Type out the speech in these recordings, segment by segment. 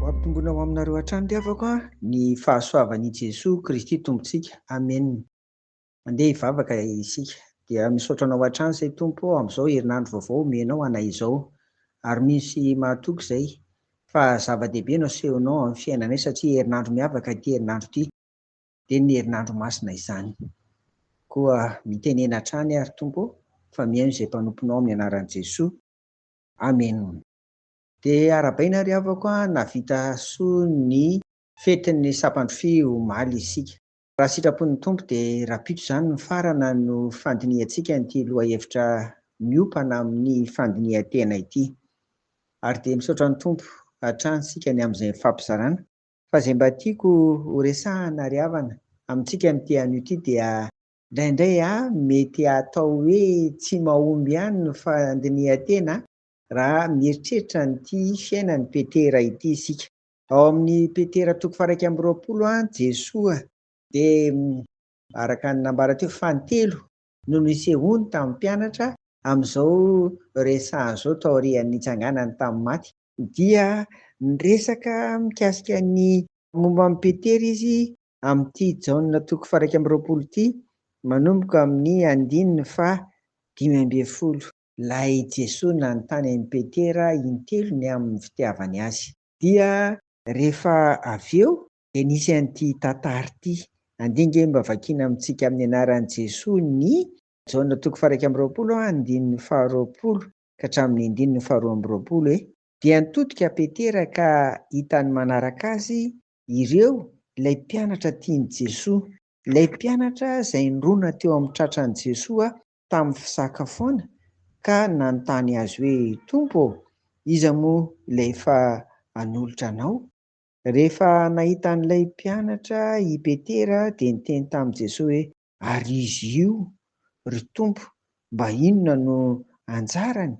Ho ampitomboina ho aminareo hatrany ry havako a! Ny fahasoavan' i Jesoa Kristy Tompontsika. Amena. Mandeha hivavaka isika. Dia misaotra Anao hatrany izay Tompo ô, amin'izao herinandro vaovao omenao anay izao. Ary misy mahatoky izay, fa zava-dehibe no asehonao amin'ny fiainanay, satria herinandro miavaka ity herinandro ity. dia ny herinandro masina izany. Koa mitenena hatrany ary Tompo ô, fa mihaino izay mpanomponao amin'ny anaran'i Jesoa. Amena. Dia arabaina ry havako a, nahavita soa ny fetin'ny Sapandro Fy omaly isika. Raha sitrapon'ny Tompo dia rapito izany ny farana no fandinihantsika an'ity lohahevitra miompana amin'ny fandinihan-tena ity. Ary dia misaotra ny Tompo hatrany isika ny amin'izay fampizarana. Fa izay mba tiako ho resahana ry havana amintsika amin'ity anio ity dia. Indraindray a, mety atao hoe tsy mahomby ihany ny fandinihan-tena raha mieritreritra an'ity fiainan'i Petera ity isika. Ao amin'i Petera toko faha-iraika amby roapolo, Jesoa dia. Araka ny nambara teo, fantelo no nisehoany tamin'ny mpianatra amin'izao resahany izao taorian'ny nitsanganany tamin'ny maty, dia niresaka mikasika ny momba an'i Petera izy amin'ity Jaona toko faha-iraika amby roapolo ity, manomboka amin'ny andininy faha dimy ambin'ny folo. Ilay Jesoa nanontany an'i Petera intelo ny amin'ny fitiavany Azy. Dia rehefa avy eo dia nisy an'ity tantara ity. Andia ange mba vakiana amintsika amin'ny anaran'i Jesoa ny. Jaona toko faha-iraika amby roapolo andininy faharoapolo ka hatramin'ny andininy faharoa amby roapolo e. Dia nitodika Petera ka hitany manaraka azy ireo ilay mpianatra tian'i Jesoa, ilay mpianatra izay nirona teo amin'ny tratran'i Jesoa tamin'ny fisakafoana ka nanontany Azy hoe, Tompo ô, iza moa ilay efa hanolotra Anao? Rehefa nahita an'ilay mpianatra i Petera dia niteny tamin'i Jesoa hoe, Ary izy io, ry Tompo, mba inona no anjarany?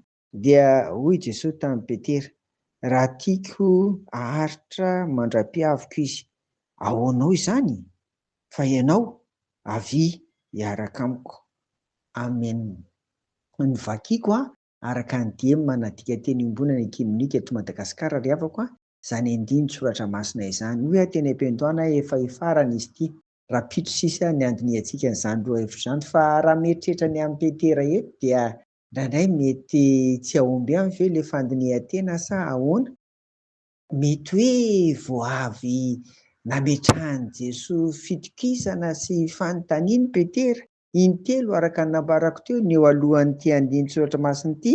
Dia hoy Jesoa tamin'i Petera, Raha tiako haharitra mandra-pihaviko izy, ahoanao izany? Fa ianao, avia hiaraka amiko. Amen. Ny vakiko araka ny dihy manadika teny iombonana ekimenika eto Madagasikara ry havako a! izany andinin-tsoratra masina izany. Hoy aho teny am-piandohana hoe efa hifarana izy ity, rahampitso sisa ny handinihantsika an'izany lohahevitra izany, fa raha mieritreritra ny amin'i Petera eto dia indraindray mety tsy hahomby aminy ve ilay fandinihan-tena sa ahoana? Mety hoe vao avy nametrahan'i Jesoa fitokisana sy fanontaniana i Petera, intelo araka ny nambarako teo, ny eo alohan'ity andinin-tsoratra masina ity,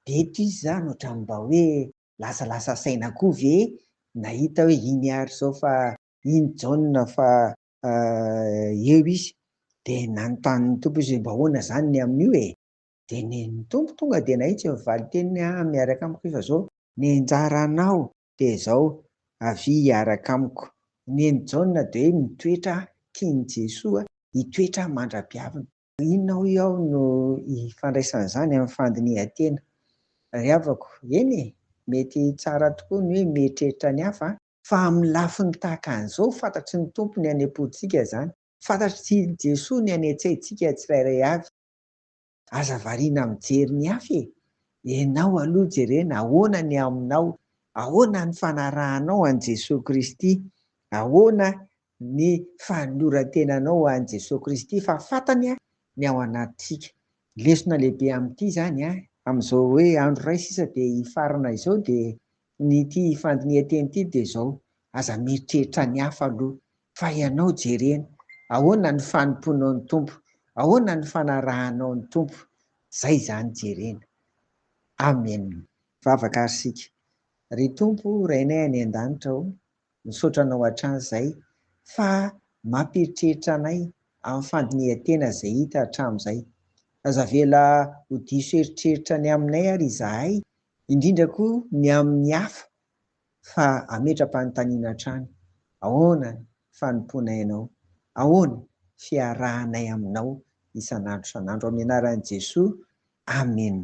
Dia toy izany ohatran'ny mba hoe lasalasa saina koa ve nahita hoe iny ary izao fa iny Jaona fa eo izy. Dia nanontany ny Tompo izy hoe mba ahoana izany ny amin'io e? Dia ny Tompo tonga dia nahitsy ny valin-teniny ah miaraka amiko efa izao ny anjara anao dia izao avia hiaraka amiko. Ny an'i Jaona dia hoe mitoetra tian'i Jesoa hitoetra mandra-piaviny. Inona hoy aho no ifandraisan' izany amin'ny fandinihan-tena? Ry havako, eny e! mety tsara tokoa ny hoe mieritreritra ny hafa an! Fa amin'ny lafiny tahaka an'izao, fantatry ny Tompo ny any am-pontsika izany. Fantatr'i Jesoa ny any an-tsaintsika tsirairay avy. Aza variana mijery ny hafa e! Ianao aloha jerena ahoana ny aminao, ahoana ny fanarahanao an'i Jesoa Kristy, ahoana ny fanoloran-tenanao ho an'i Jesoa Kristy fa fantany ny ao anatintsika. Lesona lehibe amin'ity izany amin'izao hoe andro iray sisa dia hifarana izao dia ny ity fandinihan-teny ity dia izao, aza mieritreritra ny hafa aloha fa ianao jerena ahoana ny fanompoanao ny Tompo, ahoana ny fanarahanao ny Tompo, izay izany jerena. Amen. Mivavaka ary isika. Ry Tompo Rainay any an-danitra o, Misaotra anao hatrany zay fa mampieritreritra anay amin'ny fandinihan-tena izay hita hatramin'izay. Aza avela ho diso eritreritra ny aminay ary izahay, indrindra koa ny amin'ny hafa fa ametra-panontaniana hatrany, ahoana ny fanompoanay anao? Ahoana fiarahanay aminao isan'andro isan'andro? Amin'ny anaran'i Jesoa, Amena.